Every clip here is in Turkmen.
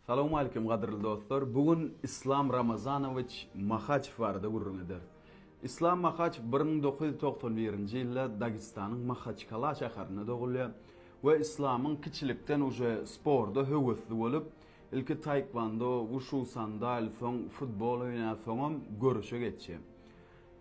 Salowmalikim gadyrly dostlar, bu gün Islam Ramazanowiç Mahaçew barada gürrüň ederis. Islam Mahaçew bir müň dokuz ýüz togsan birinji ýylda Dagystanyň Mahaçkala şäherinde dogulýar we Islamyň kiçilikden uje sporda höwesli bolup, ilki taekwondo, wuşu, sandal, soň futbol oýnar, soňam göreşe geçýär.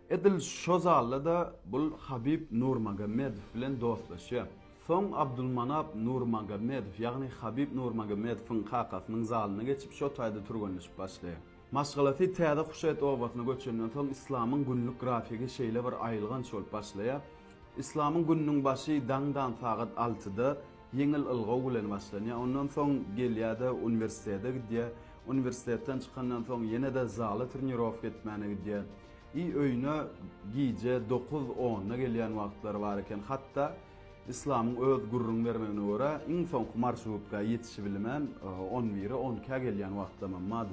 Edil şo zalda-da bul Habib Nurmagomedow bilen dostlaşýar. Soň Abdulmanap Nurmagomedow, ýagny Habib Nurmagomedowyň kakasynyň zalyna geçip şo taýda türgenleşip başlaýar. Maşgalasy täze Huşet obasyna göçenden soň Yslamyň günlük grafigi şeýle bir aýylganç bolup başlaýar. Yslamyň gününiň başy daňdan sagat altyda Ýeňil ylgaw bilen başlanýar. Ondan soň gelýär-de uniwersitete gidýär. Uniwersitetden çykandan soň ýene-de zala trenirowka etmäne gidýär. I öýüne gije dokuz, onda gelýän wagtlary bar eken. Hatda Yslamyň öz gürrüň bermegine görä, iň soňky marşrutkaýa ýetişibilmän on bire, onkä gelýän wagtlamam bar.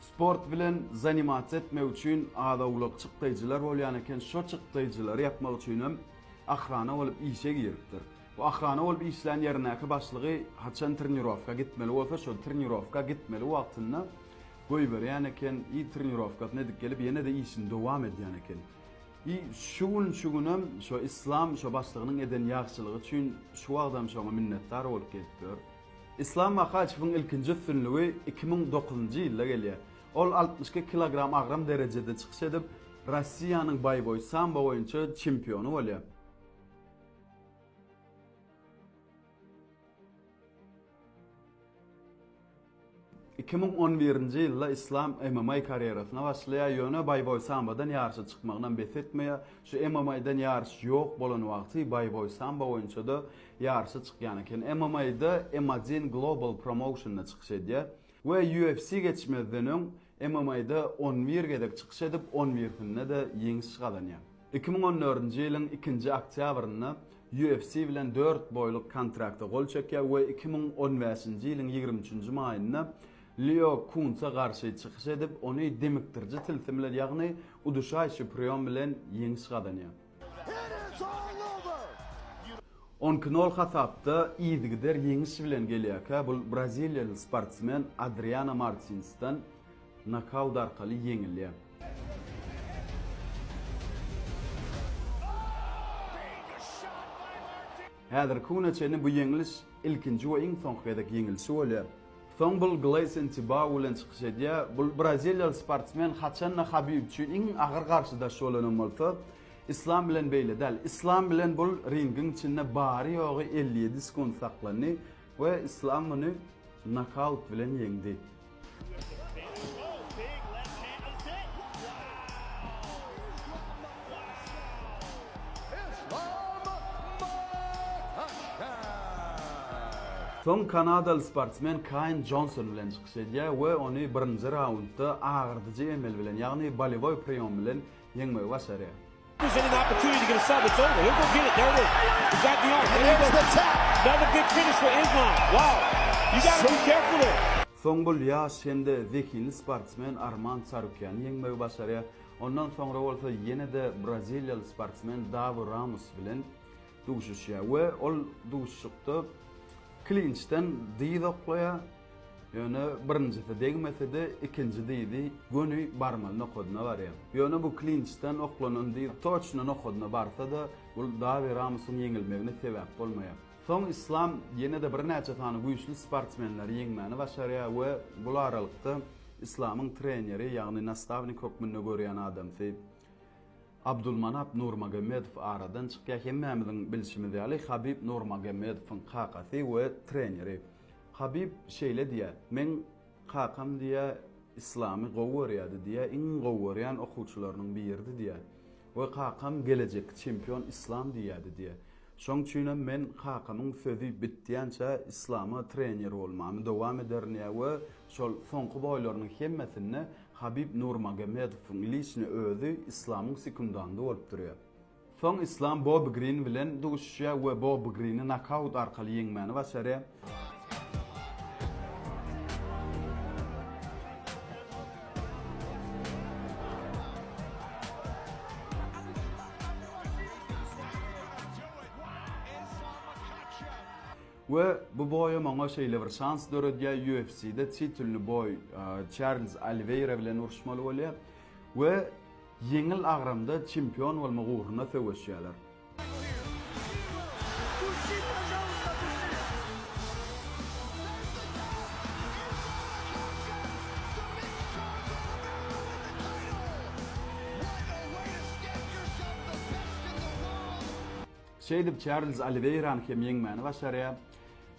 Sport bilen zanimatsiýa etmek üçin az-owlak çykdaýjylar bolýan eken, şo çykdaýjylary ýapmak üçinem ahrana bolup işe giripdir. Bu ahrana bolup işlän ýerindäki başlygy haçan trenirowka gitmeli bolsa, şo trenirowka gitmeli wagtynda goýberýän eken i trenirowkasyny edip gelip ýene-de işini dowam edýän eken. I şu gün şu günem şo Yslam şo başlygynyň eden ýagşylygy üçin şu wagtam şoňa minnetdar bolup gelipdir. Islam Mahaçewiň ilkinji üstünligi iki müň dokuzynjy ýylda gelýär. Ol altmyş iki kilogram agram derejede çykyş edip, Rossiýanyň baýboý sambo boýunça çempiony bolýar. Iki müň on birinji ýylda Islam MMA karýerasyna başlaýar, ýöne baýboý sambodan ýaryşa çykmagynam bes etmeýär. Şu MMA-dan ýaryş ýok bolan wagty baýboý sambo boýunça-da ýaryşa çykýan eken. MMA-da M один Global Promotion-da çykyş edýär we UFC geçmezden öň MMA-da on bir gezek çykyş edip, on birsinde-de ýeňiş gazanýar. Iki müň on dördünji ýylyň ikinji oktýabrynda UFC bilen dört boýluk kontrakta gol çekýär we iki müň on bäşinji ýylyň ýigrimi üçünji maýynda Lýo Kunsa garşy çykyş edip, ony demikdiriji tilsim bilen, ýagny uduşaý şiprion bilen ýeňiş gazanýar. On iki nol hasapda yzygider ýeňiş bilen gelýärkä, bu braziliýaly sportsmen Adriano Martinsden Nokaut arkaly ýeňilýär. Häzirki güne çenli bu ýeňliş ilkinji we iň soňky gezek ýeňilişi bolýar. Soň bul Gleýson Tibau bilen çykyş edýär. Bul braziliýaly sportsmen haçan-da Habib üçin iň agyr garşydaş bolan hem bolsa, Islam bilen beýle däl. Islam bilen bul ringiň içinde bary-ýogy elli ýedi sekunt saklandy. We Islam muny nokaut bilen ýeňdi. Soň kanadaly sportsmen Kaýn Jonson bilen çykyş edýär we ony birinji raundda agyrdyjy emel bilen, ýagny bolewoý priýom bilen ýeňmegi başarýar. Soň bul ýaş hem-de zehinli sportsmen Arman Çarukýany ýeňmegi başarýar. Ondan soňra bolsa ýene-de braziliýaly sportsmen Dawi Ramus bilen duşuşýar we ol duşuşykda klinçden dyz oklaýar. Ýöne birinjisi degmese-de, ikinji diýdi, göni barmaly nokadyna barýan. Ýöne bu klinçden oklanan diýdi, toçno nokadyna barsa-da, bul Dawi Ramusyň ýeňilmegine sebäp bolmaýar. Soň Islam ýene-de birnäçe sany güýçli sportsmenleri ýeňmäni başarýar we bul aralykda Islamyň treneri, ýagny nastawnik hökmünde görýän adamsy Abdulmanap Nurmagomedow aradan çykýar. Hemmämiziň bilşimiz ýaly, Habib Nurmagomedowyň kakasy we treneri. Habib şeýle diýýär, Meň kakam diýýär, Yslamy gowy görýärdi diýýär, iň gowy görýän okuwçylarynyň biridi diýýär we kakam gelejekki çempion Yslam diýýärdi diýýär. Şoň üçinem men kakamyň sözi bitýänçä Yslama trener bolmamy dowam ederin diýýär we şol soňky boýlarynyň hemmesinde Habib Nurmagomedowyň liçni özi Yslamyň sekundandy bolup durýar. Soň Islam Bobbi Grin bilen duşuşýar we Bobbi Grini nokaut arkaly ýeňmäni başarýar. We bu boýam oňa şeýle bir şans döredýär, UFC-de titulny boý Çarlz Oliweýra bilen uruşmaly bolýar we Ýeňil agramda çempion bolmak ugrunda söweşýärler. Şeýdip, Çarlz Oliweýrany hem ýeňmäni başarýar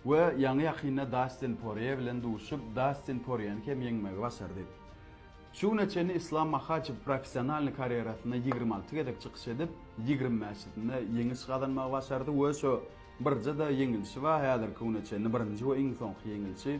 we ýaňy-ýakynda Dastin Porýe bilen duşup, Dastin Porýeni hem ýeňmegi başardy. Şu güne çenli Islam Mahaçew professionalnyý karýerasyna ýigrimi alty gezek çykyş edip, ýigrimi bäşisinde ýeňiş gazanmagy başardy we şo birje-de ýeňilişi bar, häzirki güne çenli birinji we iň soňky ýeňilişi.